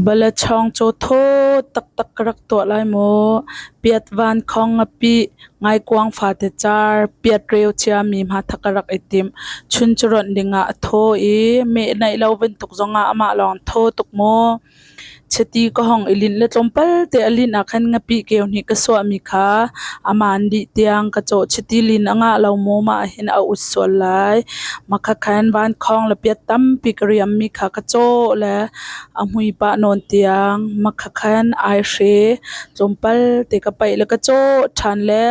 Balatthawng caw thaw taktak ka rak tuah lai maw? Piat vankhawng a pih, ngaikuang fate car, piat reu ciami hmatha ka rak i timh. Chun cu rawnh dingah a thaw i meh naih lo bantuk zongah amah lawng thaw tuk maw? Chiti ka hong i linh le tlawmpal te a linh ahkhan nga pih keu nih ka suahmi kha a maan dih tiang ka cawh. Chiti lin a ngah lo maw? Mah hin a ut sual lai. Makhakhan vankhawng le piat tampi ka riammi kha ka caw le a hmui pah nawn tiang makhakhan aihre tlawmpal te ka paih le ka caw ṭhan le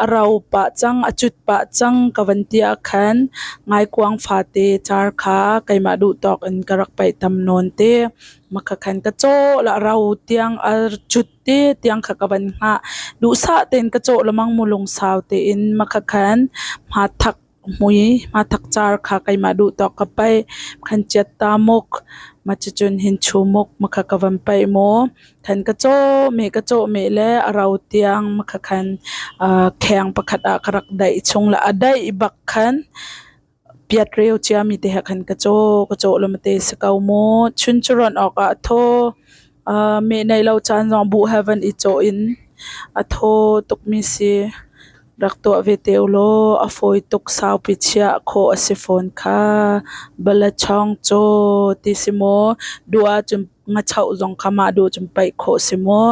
a rau pah cang, a cut pah cang ka van ti ahkhan ngaikuang fate car kha keimah duhtawk in ka rak paih tam nawn te. Makhakhan ka caw le a rau tiang a cut te tiang kha ka van hngah. Duhsah tein ka caw lemang mu lungsau tein makhakhan hma thak Hmui hmathak car kha keimah duh tawk ka paih. Khan ciat ta muk. Macicun hin chuu muk makha ka van paih maw. Khan ka cawm i ka cawm i le a rau tiang makha khan kheng pakhat ah ka rak daih chung le a daih bak khan piat reu ciami te he khan ka caw. Ka caw lawmte si ko mu. Chun cu rawnh awkah a thaw. Meh nei lo caan zong bu he van i caw in a thaw tukmi si. Rak tuah ve te ulaw a fawi tuk saupi chiah khawh a si fawn kha. Balachawng caw ti si maw, duh ahcun ngachoh zong kha mah duh cun paih khawh si maw.